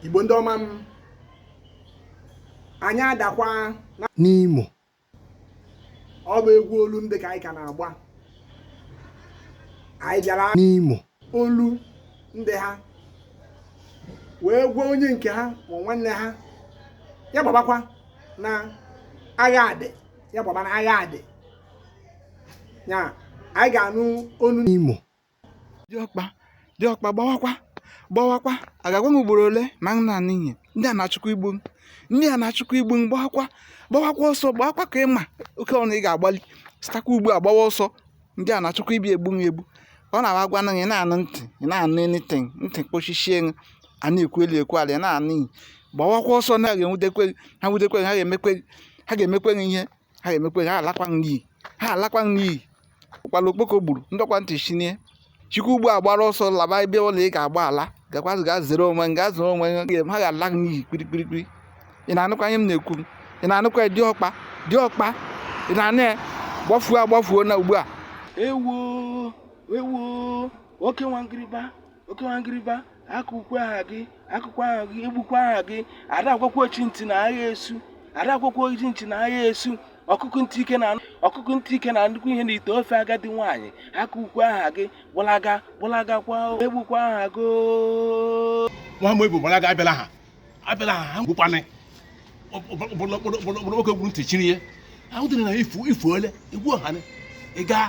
igbo ndị ọma m anyị adakwa n'imo ọ bụ egwu olu ndị ka anyị ka na-agba anyị bịara n'imo olu ndị ha wee gwa onye nke ha ma nwanne ha ya gbabakwa na agha adị ya gbaba na agha adị ya anyị ga-anụ olu n'imo diọkpa diọkpa gbawakwa gbawakwa a ga-agwa m ugboro ole ma ị na-anụ ihe ndị a na-achụkwa igbu m ndị a na-achụkwa igbu m gbawakwa gbawakwa ọsọ gbawakwa ka ị ma oke ọsọ ị ga-agbali sitakwa ugbu a gbawa ọsọ ndị a na-achụkwa ịbịa egbu m egbu ọ na-agwa na ị na-anụ ntị ị na-anụ anything ntị kpochichie ṅụ a na-ekwu elu ekwu ala ị na-anụ ihe gbawakwa ọsọ na ha ga-enwudekwe gị ha nwudekwe gị ha ga-emekwe gị ha ga-emekwe gị ihe ha emekwe ha alakwa n'iyi ha alakwa n'iyi ụkpala okpoko gburu ndọkwa ntị chiri ya sikwa ugbu a gbara ọsọ laba ebe ole ị ga-agbala gakwazi ga zere onwe ga zere onwe ha ga-ala n'iyi kpirikpirikpiri ị na-anụkwa ihe m na-ekwu ị na-anụkwa diọkpa diọkpa ị na-anụ ya gbafuo agbafuo na ugbu a ewo ewo oke nwangiriba oke nwangiriba akụkwa ha gị akụkwa ha gị egbukwa ha gị ada agwakwa ochi ntị na agha esu ada agwakwa ochi ntị na agha esu ọkụkụ ntị ike na ọkụkụ ntị ike na-anụkwa ihe n'ite ofe agadi nwaanyị akụkwa ha gị gbalaga gbalaga kwa egbukwa ha gị nwa m ebu gbalaga abịala ha abịala ha ụkpana okpoko gburu ntị chiri ya ahụ dịrị na ifu ifu ole egwu ọhanị ị gaa